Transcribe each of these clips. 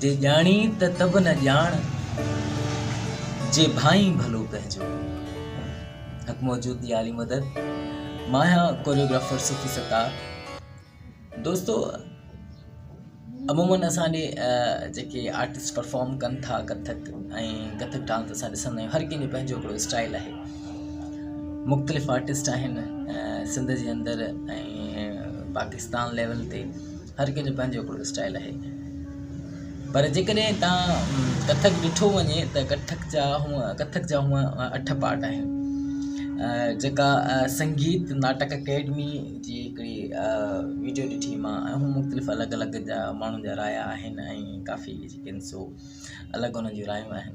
جي ڄاڻي ته تب نه ڄاڻ، جي ڀانئين ڀلو پنهنجو. حق موجود جي عالي مدد مان آهيان ڪوريوگرافر صوفي ستار دوستو عمومن اسان ڏي جيڪي آرٽسٽ پرفارم ڪن ٿا ڪٿڪ ۽ ڪٿڪ ڊانس اسان ڏسندا آهيون هر ڪنهن جو پنهنجو هڪڙو اسٽائل آهي مختلف آرٽسٽ آهن سنڌ جي اندر ۽ پاڪستان ليول تي هر ڪنهن جو پنهنجو هڪڙو اسٽائل آهي پر جي ڪڏهن تان ڪٿڪ ڏٺو وڃي ته ڪٿڪ جا هونء ڪٿڪ جا هونء اٺ پارٽ آهن جيڪا سنگيت ناٽڪ اڪيڊمي جي هڪڙي ويڊيو ڏٺي مان ۽ هونء مختلف الڳ الڳ جا ماڻهن جا رايا آهن ۽ ڪافي جيڪي آهن سو الڳ هن جون رايون آهن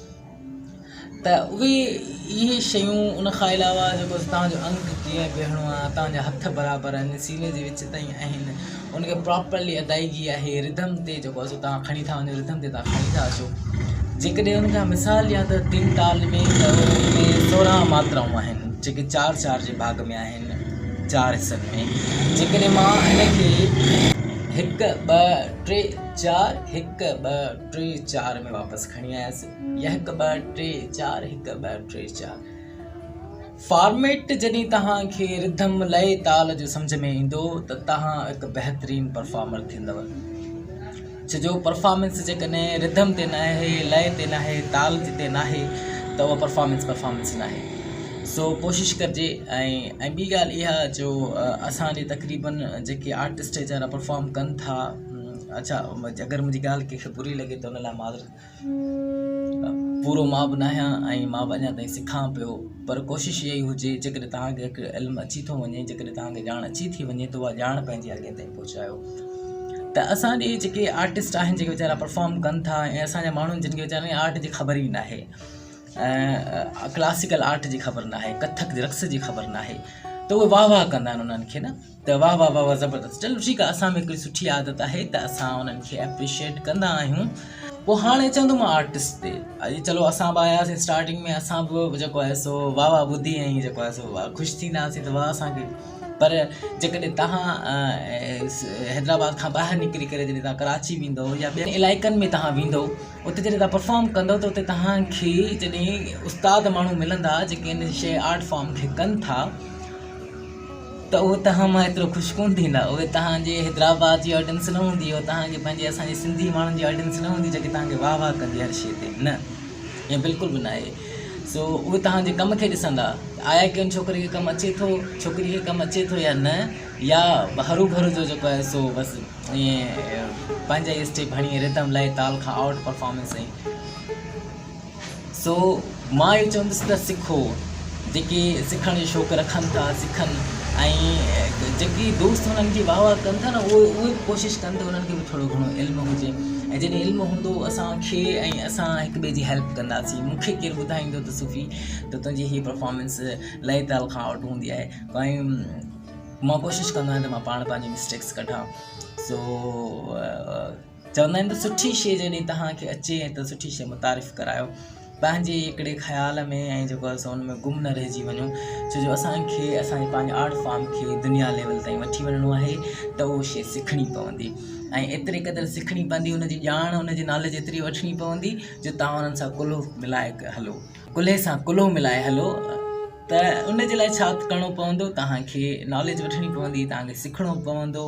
ته اهي اهي شيون ان کان علاوه جيڪو تان جو انگ ڪيئن بيهڻو آهي تان جا هٿ برابر آهن سيني جي وچ تائين آهن ان کي پراپرلي ادائيگي آهي رڌم تي جيڪو آهي سو تان کڻي ٿا وڃو رڌم تي تان کڻي ٿا اچو جيڪڏهن ان کان مثال ڏيان ته تن تال ۾ ته ان ۾ سورهن ماترائون آهن جيڪي چار چار جي ڀاڳ ۾ آهن چار حصن ۾ جيڪڏهن مان ان کي هڪ ٻه ٽي چار هڪ ٻه ٽي چار ۾ واپس کڻي آيس يا هڪ ٻه ٽي چار هڪ ٻه ٽي چار فارميٽ جڏهن توهان کي رڌم لئي تال جو سمجھ ۾ ايندو ته توهان هڪ بهترين پرفارمر ٿيندو ڇو جو پرفارمنس جيڪڏهن رڌم تي ناهي لئي تي ناهي تال جتي ناهي ته اها پرفارمنس پرفارمنس ناهي سو ڪوشش ڪرجي ۽ ٻي ڳالهه اها جو اسان جي تقريبن جيڪي آرٽسٽ ويچارا پرفارم ڪن ٿا اچا اگر منهنجي ڳالهه ڪنهن کي بري لڳي ته ان لاء معذرت. پورو مان به ناهيان ۽ مان به اڃا تائين سکان پيو پر ڪوشش اها ئي هجي جيڪڏهن توهان کي هڪ علم اچي ٿو وڃي جيڪڏهن توهان کي ڄاڻ اچي ٿي وڃي ته اها ڄاڻ پنهنجي اڳين تائين پهچايو ته اسان ڏي جيڪي آرٽسٽ آهن جيڪي ويچارا پرفارم ڪن ٿا ۽ اسان جا ماڻهو جن کي ويچارن آرٽ جي خبر ئي ناهي ڪلاسيڪل آرٽ جي خبر ناهي ڪٿڪ رقص جي خبر ناهي ته اهي واهه واهه ڪندا آهن انهن کي نه ته واه واه واه واه زبردست چلو ٺيڪ آهي اسان ۾ هڪڙي سٺي عادت آهي ته اسان انهن کي اپريشيٽ ڪندا آهيون پوء هاڻي اچان ٿو مان آرٽسٽ تي اڄ چلو اسان به آياسين اسٽارٽنگ ۾ اسان به جيڪو آهي سو واه واه ٻڌي ۽ جيڪو آهي سو واه خوش ٿينداسين ته واه اسان کي پر جيڪڏهن تهان حيدرآباد کان ٻاهر نڪري ڪري جڏهن تهان ڪراچي ويندو يا ٻين علائقن ۾ تهان ويندو اتي جڏهن تهان پرفارم ڪندو ته اتي تهان کي جڏهن استاد ماڻهو ملندا جيڪي ان شي آرٽ فارم کي ڪن ٿا ته اهي توهان مان ايترو خوش ڪونه ٿيندا، اهي توهان جي حيدرآباد جي آڊينس نه هوندي، اهي توهان جي پنهنجي اسان جي سنڌي ماڻهن جي آڊينس نه هوندي جيڪي توهان کي واهه واهه ڪندي هر شيء تي، نه ائين بلڪل به ناهي سو اهي توهان جي ڪم کي ڏسندا ته آيا ڪنهن ڇوڪري کي ڪم اچي ٿو، ڇوڪري کي ڪم اچي ٿو يا نه يا هرو ڀرو جو جيڪو آهي سو بس ائين پنهنجا ئي اسٽيپ هڻي رڌم لاهي تال کان آئوٽ پرفارمنس ۽ سو مان اهو چوندس ته سکو، جيڪي سکڻ جو شوق رکن ٿا سکن ۽ جيڪي دوست هنن جي واهه واهه ڪن ٿا نه اهي اهي به ڪوشش ڪن ته انهن کي به ٿورو گهڻو علم هجي ۽ جڏهن علم هوندو اسان کي ۽ اسان هڪ ٻئي جي هيلپ ڪنداسين مون کي ڪير ٻڌائيندو ته صوفي ته تنهنجي هي پرفارمنس لئي تال کان آئوٽ هوندي آهي ڪائين مان ڪوشش ڪندو آهيان ته مان پاڻ پنهنجي مسٽيڪس ڪڍان سو چوندا آهن ته سٺي شيء جڏهن توهان کي اچي ۽ ته سٺي شيء متعارف ڪرايو پنهنجي ئي هڪڙي خيال ۾ ۽ جيڪو آهي سو ان ۾ گم نه رهجي وڃو ڇو جو اسان کي اسان جي پنهنجي آرٽ فارم کي دنيا ليول تائين وٺي وڃڻو آهي ته اهو شيء سکڻي پوندي ۽ ايتري قدر سکڻي پوندي ان جي ڄاڻ ان جي نالج ايتري وٺڻي پوندي جو توهان انهن سان ڪلهو ملائي هلو ڪلهي سان ڪلهو ملائي هلو ته ان جي لاء ڇا ڪرڻو پوندو توهان کي نالج وٺڻي پوندي توهان کي سکڻو پوندو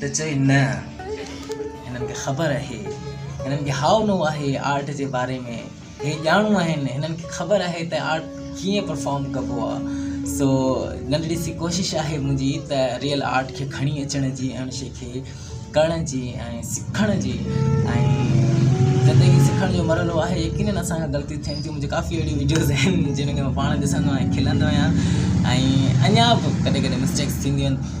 ته چئي نه هنن کي خبر اهي هنن کي هاء نو آهي آرٽ جي باري ۾ هي ڄاڻو آهن هنن کي خبر آهي ته آرٽ ڪيئن پرفارم ڪبو آ سو ننڍڙي سي ڪوشش آهي منهنجي ته ريئل آرٽ کي کڻي اچڻ جي ۽ ان شي کي ڪرڻ جي ۽ سکڻ جي ۽ جڏهن هي سکڻ جو مرحلو آهي يقينن اسان کان غلطيون ٿين ٿيون منهنجي ڪافي اهڙيون وڊيوز آهن جن کي مان پاڻ ڏسندو آهيان کلندو آهيان ۽ اڃا به ڪڏهن ڪڏهن مسٽيڪس ٿينديون آهن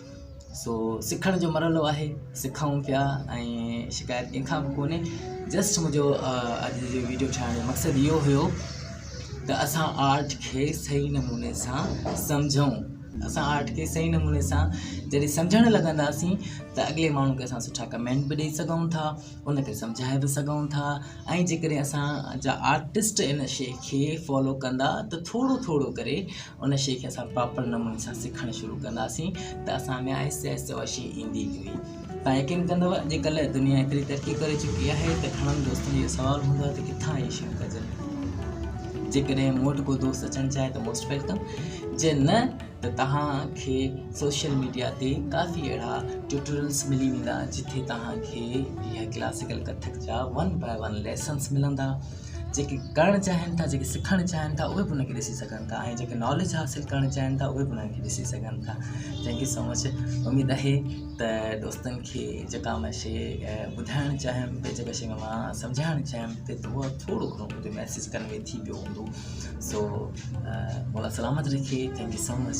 سو سکڻ جو مرحلو آهي سکون پيا ۽ شڪايت ڪنهن کان به ڪونهي جسٽ منهنجو اڄ جو ويڊيو ٺاهڻ جو مقصد اهو هيو ته اسان آرٽ کي صحيح نموني سان سمجھون اسان آرٽ کي صحيح نموني سان جڏهن سمجھڻ لڳنداسين ته اڳلي ماڻهو کي اسان سٺا ڪمينٽ به ڏيئي سگھون ٿا ان کي سمجھائي به سگھون ٿا ۽ جيڪڏهن اسان جا آرٽسٽ ان شيء کي فالو ڪندا ته ٿورو ٿورو ڪري ان شيء کي اسان پراپر نموني سان سکڻ شروع ڪنداسين ته اسان ۾ آهستي آهستي اها شيء ايندي ويندي تون يقين ڪندو اڄڪلهه دنيا ايتري ترقي ڪري چڪي آهي ته گهڻن دوستن جو سوال هوندو آهي ته ڪٿان اهي شيون ڪجن جيڪڏهن مون وٽ ڪو دوست اچڻ چاهي ته موسٽ ويلڪم جي نه ته توهان کي سوشل ميڊيا تي ڪافي اهڙا ٽيوٽورلس ملي ويندا جتي توهان کي اها ڪلاسيڪل ڪٿڪ جا ون باء ون ليسنس ملندا جيڪي ڪرڻ چاهين ٿا جيڪي سکڻ چاهين ٿا اهي به ان کي ڏسي سگهن ٿا ۽ جيڪي ناليج حاصل ڪرڻ چاهين ٿا اهي به ان کي ڏسي سگهن ٿا جنهن کي سمجھ اميد آهي ته دوستن کي جيڪا مان شي ٻڌائڻ چاهيم ٻي جيڪا شي مان سمجهائڻ چاهيم تي دعا ٿورو گهڻو ڪجهه ميسج ڪنوي ٿي ويو هوندو سو مولا سلامت رکي ٿينڪ يو سو مچ